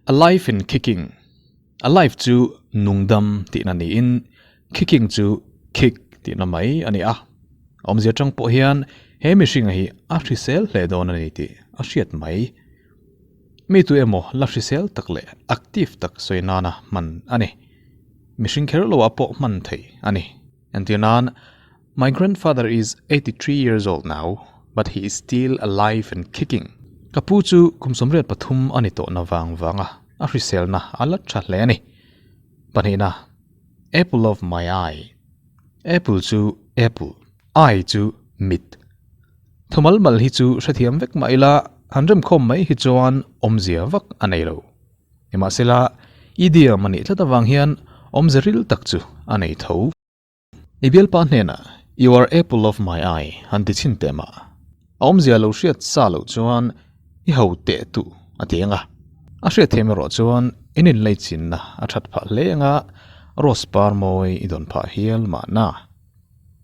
Alive in kicking, alive chu nungdam tihna niin kicking chu kick tihna mai a ni a. Awmzia tang pawh hian he mihring hi a hrisel hle dawn a ni tih a hriat mai. Mi tu emaw la hrisel tak leh active tak sawi nana hman a ni. Mihring kher loah pawh hman thei a ni. Entir nan, My grandfather is eighty three years old now, but he is still alive and kicking. Ka pu chu kum sawmriat pathum a ni tawhna vang vanga a hriselna a la tha hle a ni. Pahnihna, Apple of my eye. Apple chu apple, eye chu mit. Tho mal mal hi chu hrethiam vek mah ila han remkhawm mai hi chuan awmzia vak a nei lo. Nimahsela, idiom a nih tlat avang hian awmze ril tak chu a nei tho. I bialpa hnenah You are apple of my eye han ti chhin teh mah, a awmzia lo hriat sa loh chuan i ho teh tu a ti eng a. A hriat theihna erawh chuan in inlei chinna a that phah hle eng a, rose par mawi i dawn phah hial mahna.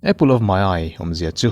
Apple of my eye awmzia chu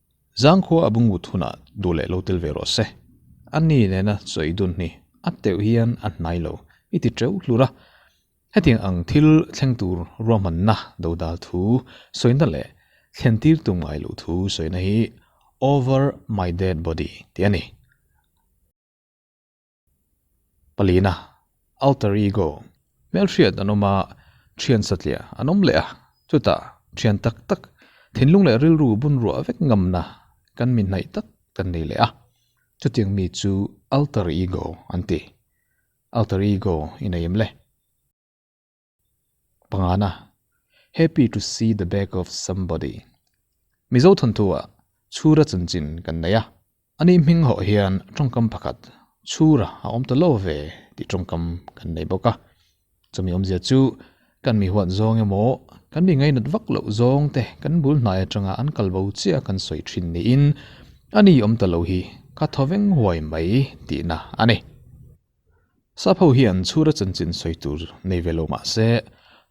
Zangkhua a bungut hunah duh leh lo tel ve rawh se. A ni nena chawi dun hi a teuh hian a hnai lo i ti teuh hlur a. Hetiang ang thil thleng tur ruahmanna do dal thu sawina leh thlentir tum ngai loh thu sawina hi over my dead body tih a ni. Palina, Alter Ego, hmelhriat an awm a, thian satlia an awm leh a, chutah thian tak tak, thinlung leh rilru bun ruah vek ngamna kan mithnaih tak kan nei leh a, chutiang mi chu Alter Ego an ti. Alter Ego i nei em le? Pangana, Happy to see the back of somebody. Mizo thawnthuwa chhura chunchin kan nei a, a nih hming hawh hian tawngkam pakhat chhura a awm ta lo ve tih tawngkam kan nei bawk a. Chumi awmzia chu kan mi huan zawng emaw, kan mi ngaihnat vak loh zawng te kan bul hnai atanga an kal bo chiah kan sawi thin niin a ni awm ta lo hi kha thaw veng huai mai tihna a ni. Sapho hian chhura chanchin sawi tur nei ve lo mah se,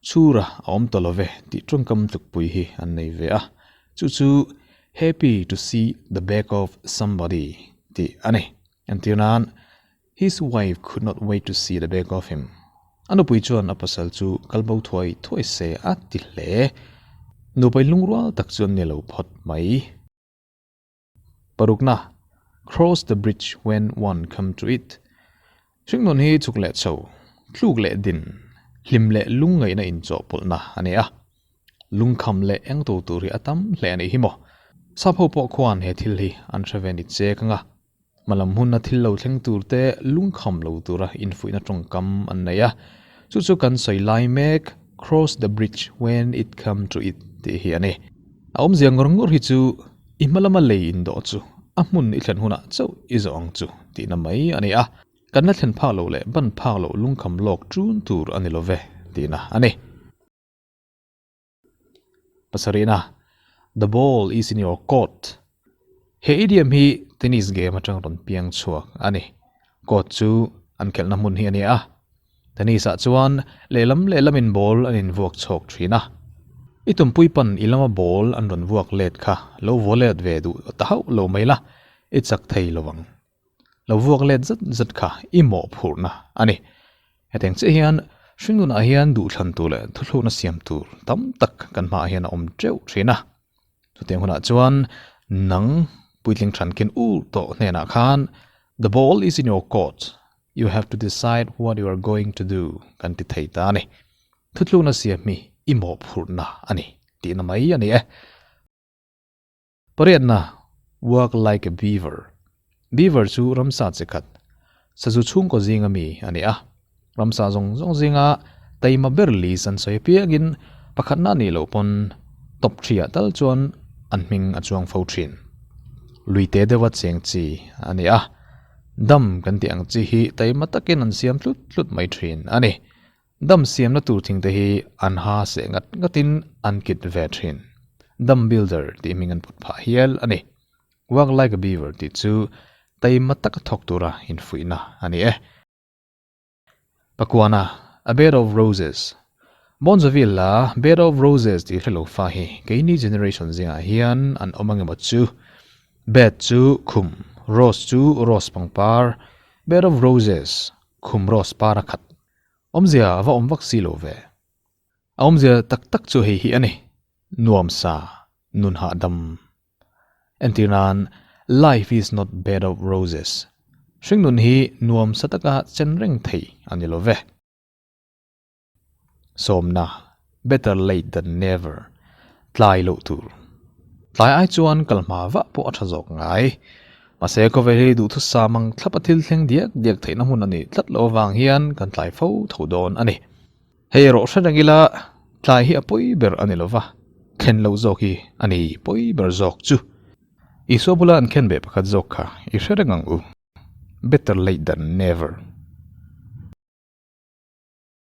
chhura a awm tawh love tih tawngkam tlukpui hi an nei ve a, chu chu Happy to see the back of somebody tih a ni. Entir nan, His wife could not wait to see the back of him. A nupui chuan a pasal chu kal bo thuai thuai se a ti hle. Nupai lungrual tak chu an ni lo phawt mai. Parukna, Cross the bridge when one come to it, Hringnun hi chuk leh chho, tluk leh din, hlim leh lung ngaihna inchawhpawlhna a ni a. Lungkham leh eng to tur hi a tam hle a nih hi maw. Sapho pawh khuan he thil hi an hre ve ni che ka nga. Hmalam hmuna thil lo thleng tur te lungkham lo tura infuihna tawngkam an neih a, chu chu kan sawi lai mek Cross the bridge when it come to it tih hi a ni. A awmzia ngawr ngawr hi chu i hmalama lei indawh chu a hmun i thlen hunah chauh i zawh ang chu tihna mai a ni a, kan la thlen phak loh leh ban phak loh lungkham lawk tun tur a ni lo ve tihna a ni. Pasarihna, The ball is in your court. He idiom hi tennis game atang rawn piang chhuak a ni. Court chu an khelhna hmun hi a ni a. Tennis ah chuan lehlam lehlam in ball an in vuak chhawk thin a. I tumpui pan i lama ball an rawn vuak let kha lo vollet ve duh ta hauh lo mai la, i chak thei lo ang. lo vuak let zet zet kha i mawh phurhna a ni. Hetiang chiah hian hringnunah hian duhthlantu leh thuthlukna siam tur tam tak kan hmaah hian a awm teuh thin a. Chutiang hunah chuan nang puitling thankin ur tawh hnenah khan The ball is in your court, you have to decide what you are going to do kan ti thei ta a ni. Thuthlukna siam hi i mawh phurhna a ni tihna mai a ni e. Pariatna, Work like a beaver. Beaver chu ramsa che khat, sazu chhungkaw zinga mi a ni a. Ramsa zawng zawng zinga taima ber lis an sawi piangin pakhatna a nih loh pawn top ṭhiah tal chuan an hming a chuang fo ṭhin. Lui te deuha cheng chi a ni a. Dam kan tih ang chi hi taima takin an siam tlut tlut mai ṭhin a ni. Dam siamna tur thing te hi an ha seh ngat ngatin an kit ve thin. Dam builder tih hming an put phah hial a ni. Work like a beaver tih chu taima taka thawk tura infuihna a ni e. Pakuana, A bed of roses. Bon Jovi la Bed of Roses tih hre lo fa hi keini generation zingah hian an awm angemaw chu. Bed chu khum, rose chu rose pangpar, bed of roses, khum rose para khat Awmzia a va awm vak si lo ve. A awmzia tak tak chu hei hi a ni, nuam sa, nun hah dam. Entir nan, life is not bed of roses. Hringnun hi nuam sa taka chenreng thei a ni lo ve. Sawmna, Better late than never tlai loh tur tlai ai chuan kal hma vah pawh a tha zawk ngai. Mahse khawvel hi duhthusam ang thlap a thil thleng diak diak theihna hmun a nih tlat loh avang hian kan tlai fo tho dawn a ni. Hei rawh hre reng ila tlai hi a pawi ber a ni lova khen lo zawk hi a ni pawi ber zawk chu. Isua bula an khen ve pakhat zawk kha i hre reng ang u. Better late than never.